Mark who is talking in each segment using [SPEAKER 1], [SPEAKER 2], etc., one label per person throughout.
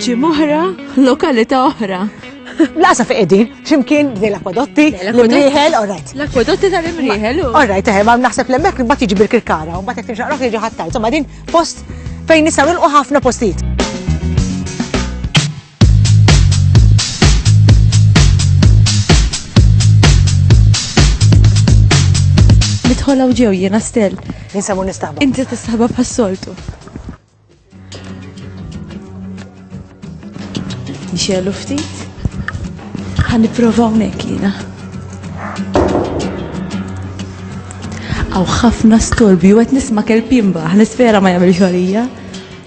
[SPEAKER 1] Ġim oħra, lokalità oħra. Lasa fi
[SPEAKER 2] edin, ximkien dej l-akwadotti, l-imriħel, orrajt. L-akwadotti tal-imriħel.
[SPEAKER 1] Orrajt, eħe, ma naħseb
[SPEAKER 2] l-emmek bat jiġi bil-kirkara, un bat jek timxaq roħ jiġi ħattar. Somma din post fejn nisaw nilqu ħafna postijiet.
[SPEAKER 1] Nidħol hawn ġew jiena stel. Jinsabu nistaħba.
[SPEAKER 2] Inti tistaħba bħas-soltu.
[SPEAKER 1] Nixelu ftit. Ħan nipprova hawnhekk jiena. Aw ħafna storbi u qed nisma' kelbimba, ħnisfera ma jagħmel xogħlija.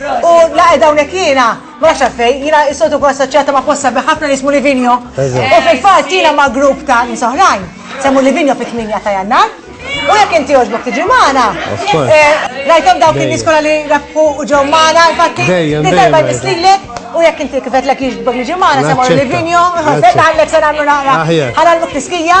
[SPEAKER 2] U laqed hawnhekk jiena, ma nafx għalfejn, jiena is-soltu nkun assoċjata ma' post sabiħ ħafna li jismu Livigno. U fil-fatt jiena ma' grupp ta' nies oħrajn, semmu Livigno fit-8 ta' Jannar. U jekk inti jogħġbok tiġi magħna. Eh, rajthom dawk in-nies kollha li rebħu u ġew magħna, infatti li darba jmislilek u jekk inti kifet lek jiġbok niġi magħna semmu Livigno, ħallek se nagħmlu naqra. Ħalal muk tiskija.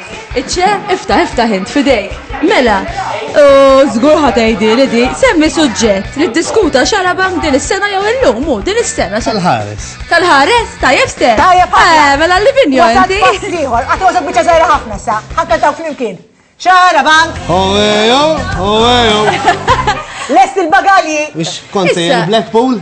[SPEAKER 1] Iċċe, iftaħ, iftaħ int fidejk. Mela, u żgur ħatejdi li di, semmi suġġett li ddiskuta xara bank din is-sena jew illum u din is-sena. Tal-ħares.
[SPEAKER 3] Tal-ħares, tajjeb
[SPEAKER 1] ste. Tajjeb ħafna. Eh, mela
[SPEAKER 2] li vinjo. Għad
[SPEAKER 1] pass liħor, għad għazak bieċa
[SPEAKER 2] zaħira ħafna sa, ħakka taw flimkien. Xara bank. Owejo,
[SPEAKER 3] owejo.
[SPEAKER 2] Lest il-bagalji. Ix konti
[SPEAKER 3] il-Blackpool?